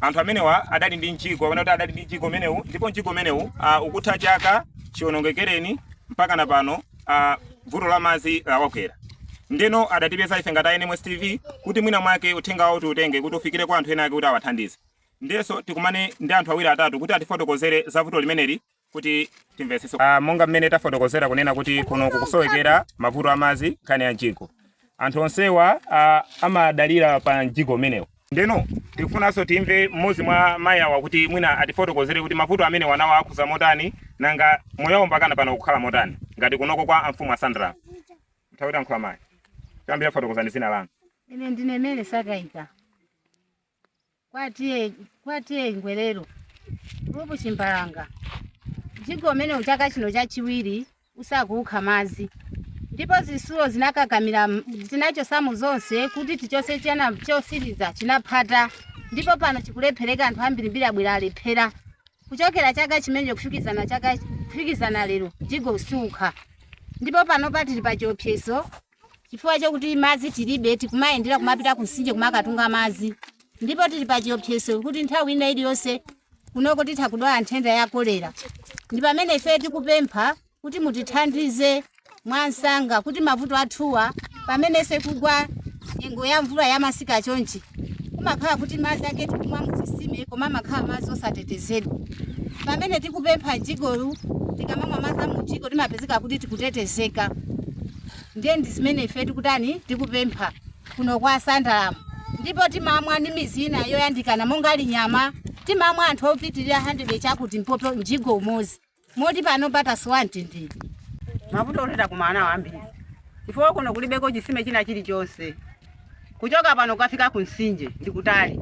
Anthu amenewa adali ndi mjigo kapena kuti adali ndi mjigo umenewu ndipo mjigo umenewu uh, ukutha chaka chiwonongekereni mpaka na pano uh, vuto la madzi lawagwera ndeno adatipeza ife ngati a NMS TV kuti mwina mwake uthenga wawo tiutenge kuti ufikire kwa anthu ena ake kuti awathandize ndiyenso tikumane ndi anthu awiri atatu kuti atifotokozere za vuto limeneli kuti timvetsetse ah, monga mmene tafotokozera kunena kuti kuno kukusowekera mavuto a madzi nkhani ya mjigo anthu onsewa ah, amadalira pa mjigo umenewu ndeno tikufunanso timve mmodzi mwa mayi awa kuti mwina atifotokozere kuti mavuto amenewawa akhuza motani nanga moyo mpaka na pano ukukhala motani ngati kunoko kwa amfumu a Sandalamu tawatiyankhulani mayi kuyambira fotokozani dzina lanu ine ndine Mele Sakaika kwa T/A Ngwelero gulupu Chimbalanga mjigo umenewu chaka chino chachiwiri usakutukha madzi ndipo zisulo zinakakamira tinachosamo zonse kuti tichose china chosiriza chinaphata ndipo pano chikulephereka anthu ambirimbiri abwera alephera kuchokera chaka chimenecho kufikizana lero mjigo usiukha ndipo panopa tili pa chiopsezo chifukwa chakuti madzi tilibe tikumayendera kumapita kumtsinje kumakatunga madzi ndipo tili pa chiopsezo kuti nthawi ina iliyonse kunoko titha kudwala nthenda ya kolera ndi pamene ife tikupempha kuti mutithandize mwansanga kuti mavuto athuwa pamene isakugwa nyengo ya mvula ya masika chonchi kumakhala kuti madzi ake tikumwa muzisime koma amakhala madzi osatetezedwa pamene tikupempha mjigowu tikamamwa madzi a mumjigo timapezeka kuti tikutetezeka ndiye ndi zimene ife tikutani tikupempha kuno kwa Sandalamu ndipo timamwa ndi mizi ina yoyandikana monga a Linyama timamwa anthu opitirira 100 chakuti mpope mjigo umodzi moti pano tasowa mtendere mavuto oti takumana nawo ambiri chifukwa kuno kulibeko chisime china chilichonse Kuchoka pano kukafika kumtsinje ndi kutali.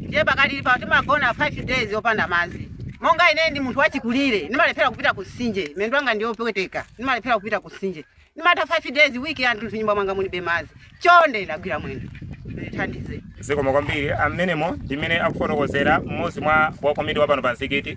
Ndiye pakadali pano timagona 5 days opanda madzi. Monga ineyo ndi munthu wachikulire, ndimalephera kupita kumtsinje. Miyendo yanga ndi yopweteka, ndimalephera kupita kumtsinje. Ndimatha 5 days, week yathunthu m'nyumba mwanga mulibe madzi. Chonde ndagwira mwendo, mundithandize. Zikomo kwambiri. Ah, mmenemo ndi mmene akufotokozera mmodzi mwa wakomiti wa pano pa mjigo.